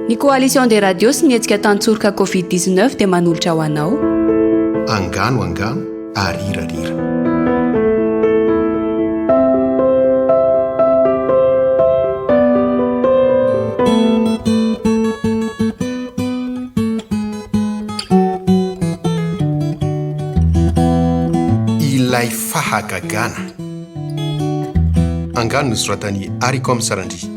Ny Coalition des Radios sy ny hetsika Tantsoroka Covid 19 dia manolotra ho anao. Angano angano ary rira rira. Ilay fahagagana. Angano nosoratan'i Haricom Sarandria.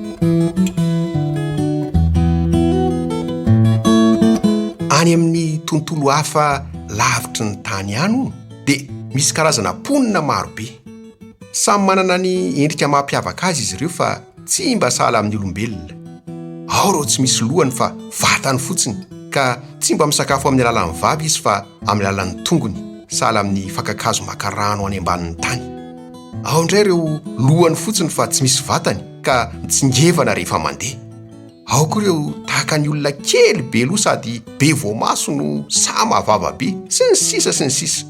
Any amin'ny tontolo hafa lavitry ny tany any hono dia misy karazana mponina marobe. Samy manana ny endrika mampiavaka azy izy ireo fa Tsy mba sahala amin'ny olombelona. Ao ireo tsy misy lohany fa vatany fotsiny, ka tsy mba misakafo amin'ny alalan'ny vava izy fa amin'ny alalan'ny tongony, sahala amin'ny fakan-kazo maka rano any ambanin'ny tany. Ao indray ireo lohany fotsiny fa tsy misy vatany, ka mitsingevana rehefa mandeha. Ao koa ireo tahaka ny olona kely be loha sady be voamaso no sahy mahavava be, sy ny sisa sy ny sisa.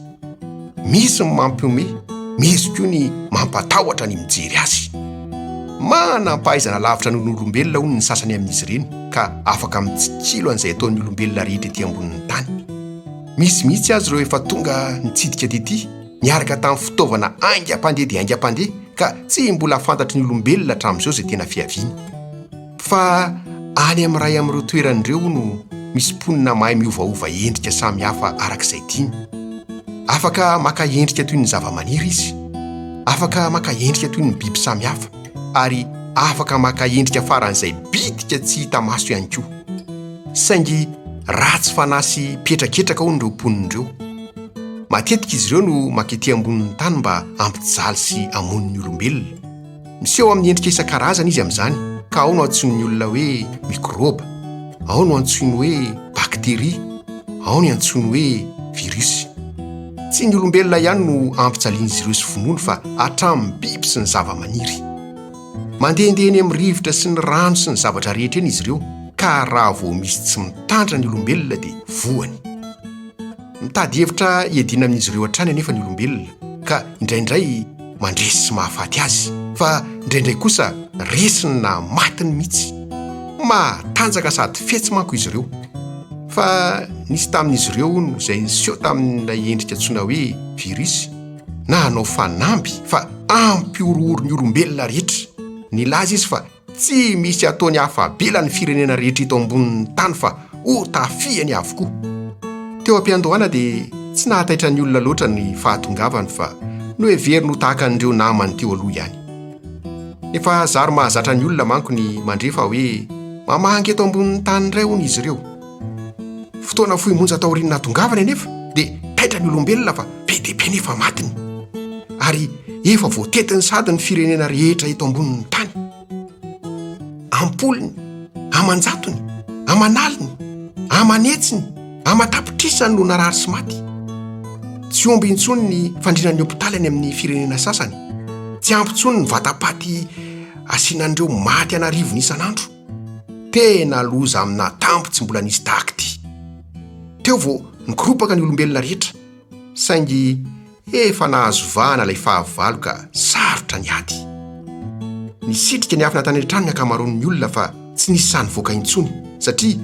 Misy ny mampihomehy, misy koa ny mampatahotra ny mijery azy. Manam-pahaizana lavitra noho ny olombelona hono ny sasany amin'izy ireny ka afaka mitsikilo an'izay ataon'ny olombelona rehetra ety ambonin'ny tany. Misy mihitsy aza ireo efa tonga nitsidika tety. niaraka tamin'ny fitaovana haingam-pandeha dia haingam-pandeha ka tsy mbola fantatry ny olombelona hatramin'izao izay tena fiaviany. Fa any amin'ny iray amin'ireo toerana ireo hono misy mponina mahay miovaova endrika samy hafa araka izay tiany. Afaka maka endrika toy ny zavamaniry izy, afaka maka endrika toy ny biby samy hafa, ary afaka maka endrika faran'izay bitika tsy hita maso ihany koa. Saingy ratsy fanahy sy mpihetraketraka hono ireo mponina ireo. Matetika izy ireo no maka ety ambonin'ny tany mba hampijaly sy hamono ny olombelona. Miseho amin'ny endrika isan-karazany izy amin'izany, ka ao no antsoin'ny olona hoe mikrôba, ao no antsoiny hoe bakteria, ao ny antsoiny hoe virus. Tsy ny olombelona ihany no ampijalian'izy ireo sy vonoiny fa hatramin'ny biby sy ny zavamaniry. Mandehandeha eny amin'ny rivotra sy ny rano sy ny zavatra rehetra eny izy ireo, ka raha vao misy tsy mitandrina ny olombelona dia voany. Mitady hevitra hiadiana amin'izy ireo hatrany anefa ny olombelona, ka indraindray mandresy sy mahafaty azy, fa indraindray kosa resiny na matiny mihitsy. Matanjaka sady fetsy manko izy ireo. Fa nisy tamin'izy ireo, hono, izay niseho tamin'ilay endrika antsoina hoe virus, na hanao fanamby fa hampihorohoro ny olombelona rehetra. Nilaza izy fa Tsy misy ataony afa-bela ny firenena rehetra eto ambonin'ny tany fa ho tafihany avokoa. Teo am-piandohana dia tsy nahataitra ny olona loatra ny fahatongavany fa noheveriny ho tahaka an'ireo namany teo aloha ihany. Efa zary mahazatra ny olona manko ny mandre fa hoe mamangy eto ambonin'ny tany indray hono izy ireo. Fotoana fohy monja taorian'ny nahatongavany anefa dia taitra ny olombelona fa be dia be ny efa matiny ary efa voatetiny sahady ny firenena rehetra eto ambonin'ny tany. Am-polony, aman-jatony, aman'aliny, aman'hetsiny, aman-tapitrisany no narary sy maty. Tsy omby intsony ny fandrinan'ny hopitaly any amin'ny firenena sasany, tsy ampy intsony ny vatapaty asiana an'ireo maty an'arivony isan'andro. Tena loza amina tambo tsy mbola nisy tahaka ity. Teo vao nikoropaka ny olombelona rehetra, saingy efa nahazo vahana ilay fahavalo ka sarotra ny ady. Nisitrika niafina tany an-trano ny ankamaroan'ny olona fa tsy nisy sahy nivoaka intsony, satria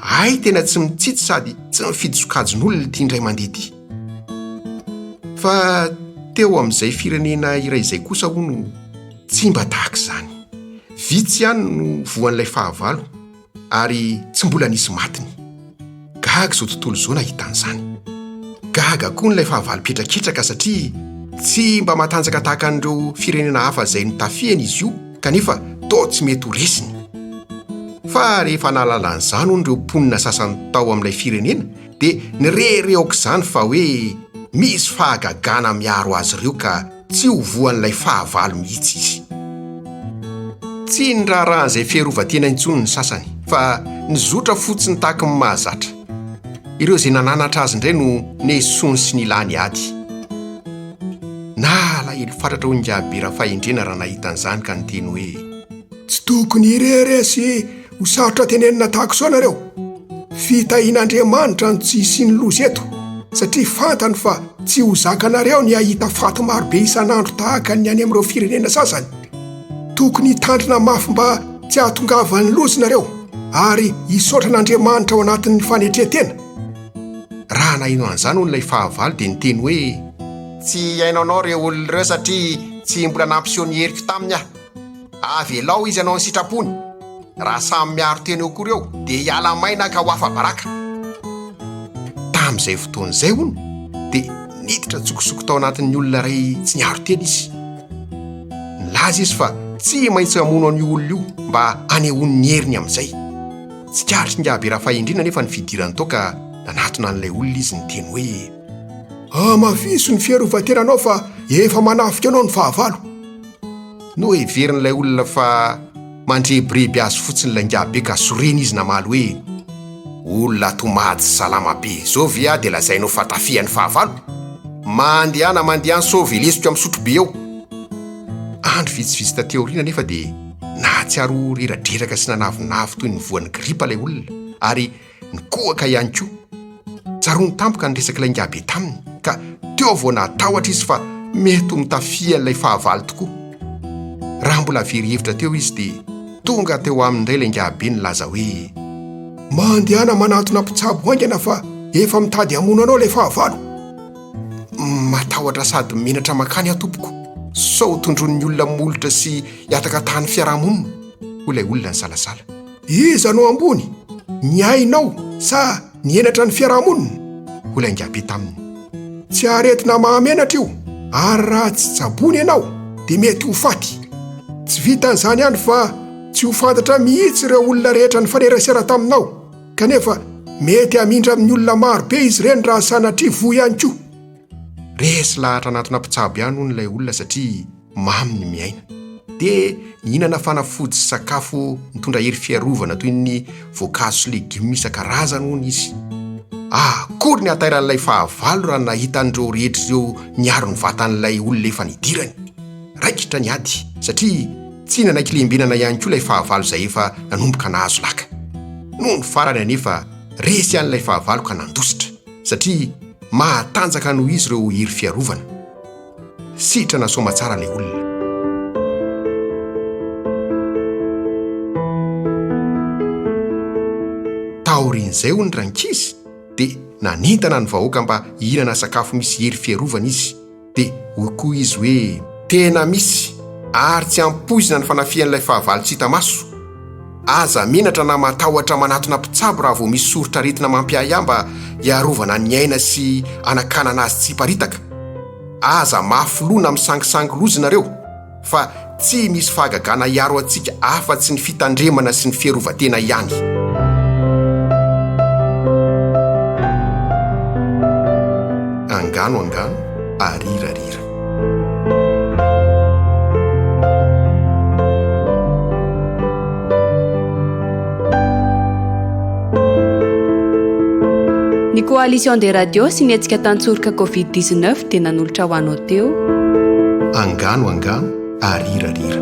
hay tena tsy mitsitsy sady tsy mifidy sokajin'olona ity indray mandeha ity. Fa teo amin'izay firenena iray izay kosa hono, Tsy mba tahaka izany. Vitsy ihany no voan'ilay fahavalo, ary tsy mbola nisy matiny. Gaga izao tontolo izao nahita an'izany. Gaga koa ny ilay fahavalo mpihetraketraka satria tsy mba matanjaka tahaka an'ireo firenena hafa izay notafihany izy io kanefa toa tsy mety ho resiny. Fa rehefa nahalala an'izany hono ireo mponina sasany tao amin'ilay firenena dia nirehareha aok'izany fa hoe misy fahagagana miaro azy ireo ka Tsy ho voan'ilay fahavalo mihitsy izy. Tsy niraharahan'izay fiarovan-tena intsony ny sasany, fa nizotra fotsiny tahaka ny mahazatra. Ireo izay nananatra azy indray no nesoany sy nilany ady. Nalahelo fatratra hoy Ingahy Be Rafahendrena raha nahita an'izany ka niteny hoe. Tsy tokony irery asia! Ho sarotra tenenina tahaka izao nareo. Fitahian'Andriamanitra ny tsy hisian'ny loza eto, satria fantany fa tsy ho zakanareo ny hahita faty marobe isan'andro tahaka ny any amin'ireo firenena sasany. Tokony hitandrina mafy mba tsy hahatongavan'ny loza nareo ary hisaotra an'Andriamanitra ao anatin'ny fanetren-tena. Raha naheno an'izany hono ilay fahavalo dia niteny hoe. Tsy hihaino anao ireo olona ireo satria tsy mbola nampiseho ny heriko taminy aho. Avelao izy hanao ny sitrapony. Raha samy miaro tena eo akory eo dia hiala maina ka ho afa-baraka. Tamin'izay fotoana izay, hono, dia niditra an-tsokosoko tao anatin'ny olona iray tsy niaro tena izy. Nilaza izy fa tsy maintsy hamono an'io olona io mba hanehoany ny heriny amin'izay. Tsikaritra ingahy Rafahendriana anefa ny fidirany tao ka nanatona an'ilay olona izy niteny hoe, Hamafiso ny fiarovan-tenanao fa efa manafika anao ny fahavalo. Noheverin'ilay olona fa mandrebireby azy fotsiny ilay ngiabe ka sorena izy namaly hoe, Olona ato Mada salama be izao ve aho dia lazainao fa tafihan'ny fahavalo? Mandehana mandehana sao velesiko amin'ny sotrobe ao. Andro vitsivitsy taty aoriana anefa dia nahatsiaro redradredraka sy nanavinavy toy ny voan'ny gripa ilay olona ary ny kohaka ihany koa. Tsaroany tampoka ny resak'ilay Ngabe taminy, ka teo vao nahatahotra izy fa mety ho notafihan'ilay fahavalo tokoa. Raha mbola very hevitra teo izy dia tonga teo aminy indray ilay Ngabe nilaza hoe, Mandehana manantona mpitsabo haingana fa efa mitady hamono anao ilay fahavalo. Matahotra sady menatra mankany aho tompoko, sao tondroin'ny olona molotra sy hihataka tany fiarahamonina, hoy ilay olona nisalasala. Iza no ambony, ny ainao sa ny henatra ny fiarahamonina? hoy ilay ngabe taminy. Tsy aretina mahamenatra io, ary raha tsy tsaboina ianao dia mety ho faty. Tsy vitan'izany ihany fa tsy ho fantatra mihitsy ireo olona rehetra nifanerasera taminao, kanefa mety hamindra amin'ny olona maro be izy ireny raha sanatria voa ihany koa. Resy lahatra anatona mpitsabo ihany hono ilay olona satria. mamy ny miaina. Dia mihinana fanafody sy sakafo mitondra hery fiarovana toy ny voankazo sy legioma isan-karazany hono izy. Ah, akory ny hatairan'ilay fahavalo raha nahita an'ireo rehetra ireo niaro ny vatan'ilay olona efa nidirany! Raikitra ny ady, satria tsy nanaiky lembenana ihany koa ilay fahavalo izay efa nanomboka nahazo laka. Nony farany anefa, resy ihany ilay fahavalo ka nandositra, satria mahatanjaka noho izy ireo hery fiarovana. Sitrana soamatsara le olona. Taorian'izay hono rankizy dia nanentana ny vahoaka mba hihinana sakafo misy hery fiarovana izy. Dia hoy koa izy hoe. Tena misy ary tsy ampoizina ny fanafihan'ilay fahavalo tsy hita maso. Aza menatra na matahotra manatona mpitsabo raha vao misy soritr'aretina mampiahiahy mba hiarovana ny aina sy hanakanana azy tsy hiparitaka. Aza mafy loha na misangisangy loza ianareo, fa tsy misy fahagagana hiaro antsika afa-tsy ny fitandremana sy ny fierovan-tena ihany. Angano angano, arira arira. Ny Coalition des Radios sy ny hetsika tantsoroka Covid-19 dia nanolotra ho anao teo. Angano angano ary rira rira.